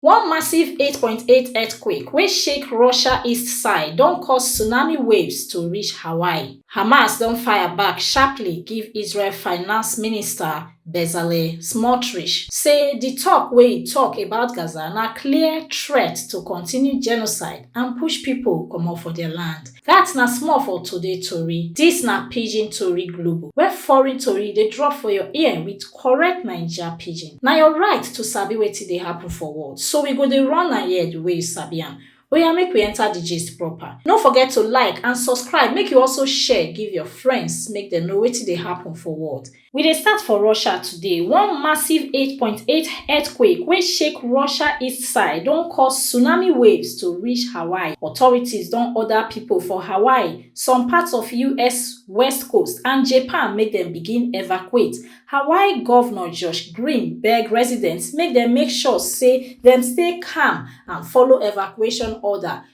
One massive 8.8 earthquake wey shake Russia east side don cause tsunami waves to reach Hawaii. Hamas don fire back sharply give Israel finance minister Bezalel Smotrich say di talk wey e talk about Gaza na clear threat to continue genocide and push pipo comot for dia land. Dat na small for today tori. Dis na Pidgin Tori Global, where foreign tori dey drop for your ear with correct Naija Pidgin. Na your right to sabi wetin dey happen for world, so we go dey run am here the way you sabi am. Oya make we enter the gist proper. No forget to like and subscribe, make you also share give your friends make dem know wetin dey happen for world. We dey start for Russia today. One massive 8.8 earthquake wey shake Russia east side don cause tsunami waves to reach Hawaii. Authorities don order people for Hawaii, some parts of US west coast and Japan make dem begin evacuate. Hawaii Governor Josh Green beg residents make dem make sure say dem stay calm and follow evacuation order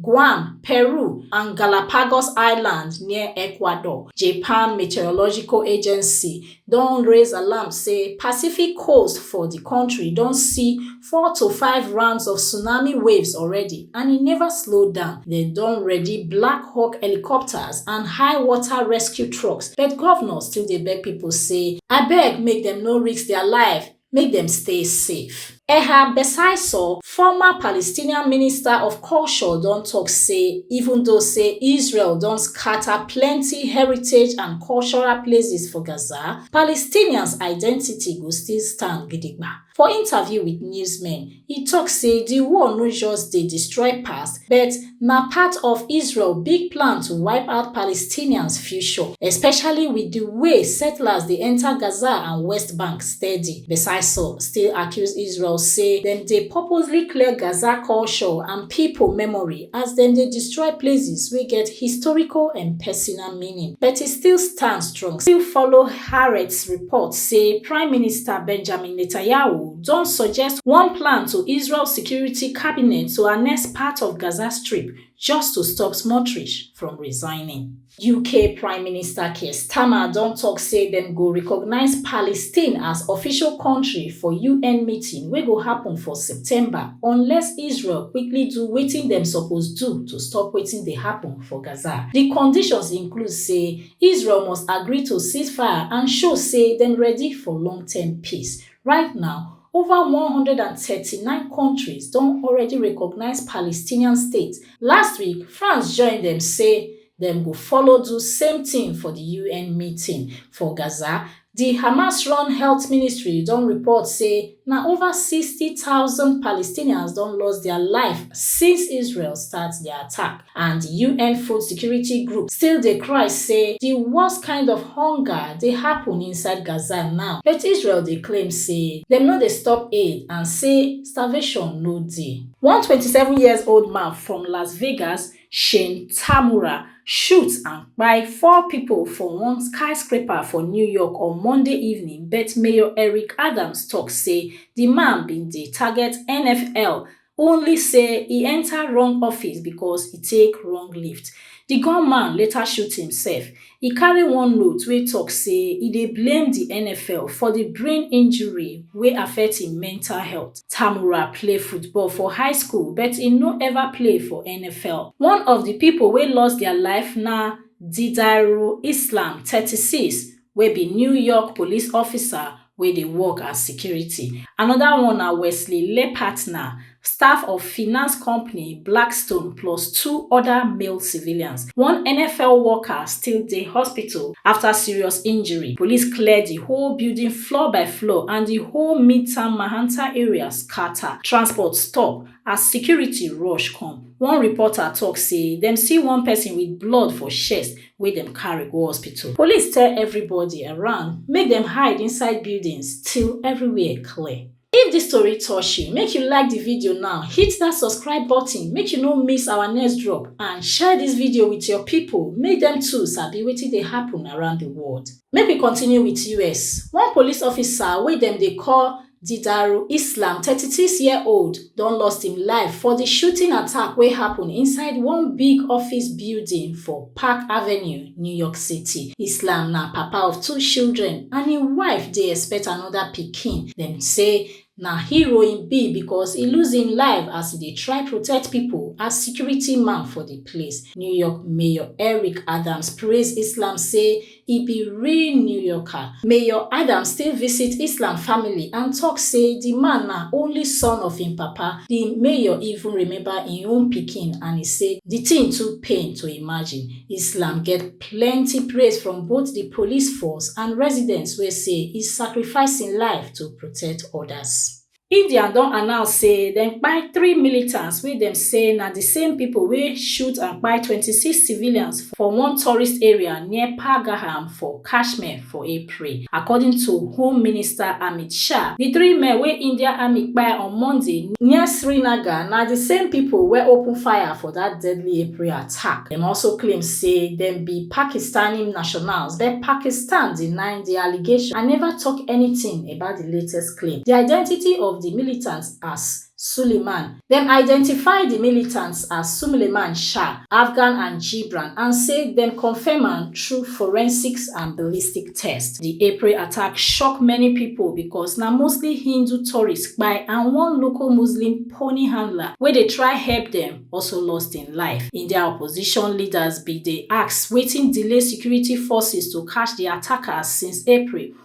Guam, Peru, and Galapagos Island near Ecuador, Japan Meteorological Agency don raise alarm say Pacific coast for di country don see four to five rounds of tsunami waves already and e never slow down. Dem don ready Black Hawk helicopters and high water rescue trucks, but governors still dey beg people say abeg make dem no risk their life make dem stay safe. Ehab Besaisor, former Palestinian minister of culture don tok say even though say Israel don scata plenty heritage and cultural places for Gaza, Palestinians identity go still stand gidigba. For interview wit newsmen, E tok say di war no just dey destroy past, but na part of Israel big plan to wipe out Palestinians future, especially with di way settlers dey enta Gaza and West Bank steady. Besaisor still accuse Israel say dem dey purposely clear Gaza culture and pipo memory as dem dey destroy places wey get historical and personal meaning. But e still stand strong. Still follow Haaretz report say Prime Minister Benjamin Netanyahu, don suggest one plan to israel security cabinet to annex part of gaza strip just to stop smotrich from resigning uk prime minister keir starmer don tok say dem go recognise palestine as official kontri for un meeting wey go happun for september unless israel quickly do wetin dem suppose do to stop wetin dey happun for gaza di conditions include say israel must agree to ceasefire and show say dem ready for long term peace Right now, over one one hundred and thirty nine kontris don already recognise Palestinian state. Last week, France join dem say dem go follow do same tin for di UN meeting. For Gaza, di Hamas-run health ministry don report say na over sixty thousand Palestinians don lost dia life since Israel start di attack. And UN Food Security Group still dey cry say di worst kind of hunger dey happun inside Gaza now, but Israel dey claim say dem no dey stop aid and say starvation no dey. One twenty seven years old man from Las Vegas, Shane Tamura, shoot and kpai four pipo for one skyscraper for New York on Monday evening but Mayor Eric Adams tok say di man bin dey target NFL only say e enta wrong office becos e take wrong lift. Di gunman later shoot imsef. E carry one note wey tok say e dey blame di nfl for di brain injury wey affect im mental health. Tamura play football for high school but e no ever play for nfl. One of di pipo wey lost dia life na Didairu Islam, thirty six, wey be New York police officer wey dey work as security. Anoda one na Wesley Lepatner, staff of finance company Blackstone plus two oda male civilians. One NFL worker still dey hospital afta serious injury. Police clear di whole building floor by floor and di whole Midtown Mahanta area scata. Transport stop as security rush come. One reporter tok say dem see one pesin wit blood for chest wey dem carry go hospital. Police tell everybody around make dem hide inside buildings till everywhere clear. If this tori touch you, make you like the video now, hit that subscribe button make you no miss our next drop and share this video with your people make them too sabi wetin dey happen around the world. Make we continue with US, one police officer wey dem dey call Didaru Islam, 36-year-old, don lost im life for di shooting attack wey happun inside one big office building for Park Avenue, New York City. Islam na papa of two children and im wife dey expect anoda pikin. Dem say na hero im be because e lose im life as e dey try protect pipo as security man for di place. New York Mayor Eric Adams praise Islam say e be real new yorker mayor adams still visit islam family and tok say di man na only son of im papa di mayor even remember im own pikin and e say di tin too pain to imagine islam get plenty praise from both di police force and residents wey say e sacrifice im life to protect odas india don announce say dem kpai three militants wey dem say na di same pipo wey shoot and kpai 26 civilians for one tourist area near pahalgam for kashmir for april according to home minister amit shah di three men wey india army kpai on monday near srinagar na di same pipo wey open fire for dat deadly april attack dem also claim say dem be pakistani nationals but pakistan deny di allegation and neva tok anytin about di latest claim di identity of di militants as Suleiman. Dem identify di militants as Sumleman Shah, Afghan and Jibran and say dem confirm am through forensics and ballistic test. Di April attack shock many pipo becos na mostly Hindu tourists kpai and one local Muslim pony handler wey dey try help dem also lost im life. India opposition leaders bin dey ask wetin delay security forces to catch di attackers since April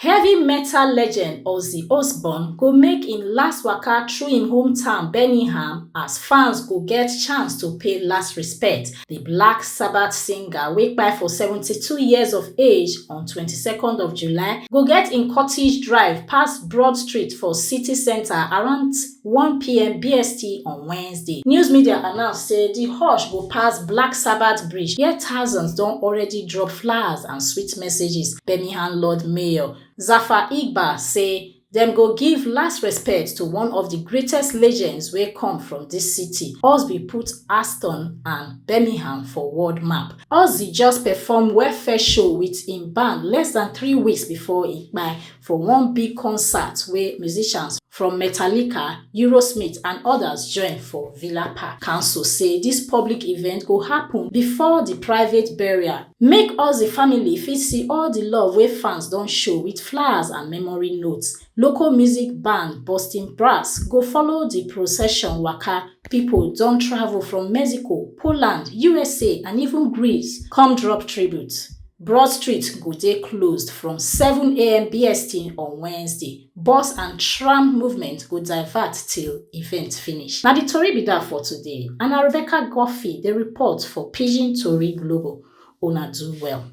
Heavy metal legend Ozzy Osbourne go make im last waka through im hometown Birmingham as fans go get chance to pay last respect. Di Black Sabbath singer wey kpai for 72 years of age on 22nd of July go get im cottage drive pass Broad Street for city centre around one pm BST on Wednesday. News media announce say di hush go pass Black Sabbath Bridge wia thousands don already drop flowers and sweet messages. Birmingham Lord Mayor Zafar Iqbal say dem go give last respect to one of di greatest legends wey come from dis city. Ozzy put Aston and Birmingham for world map. Ozzy just perform welfare show wit im band less dan three weeks before e kpai. for one big concert wey musicians from Metallica, Eurosmith and others join for Villa Park. Council say dis public event go happun bifor di private burial, make Ozzy family fit see all di love wey fans don show wit flowers and memory notes. Local music band Boston Brass go follow di procession waka, pipo don travel from Mexico, Poland, usa and even Greece come drop tribute. Broad Street go dey closed from 7am BST on Wednesday. Bus and tram movement go divert till event finish. Na di tori be dat for today and na Rebecca Guffey dey report for Pidgin Tori Global. Una do well.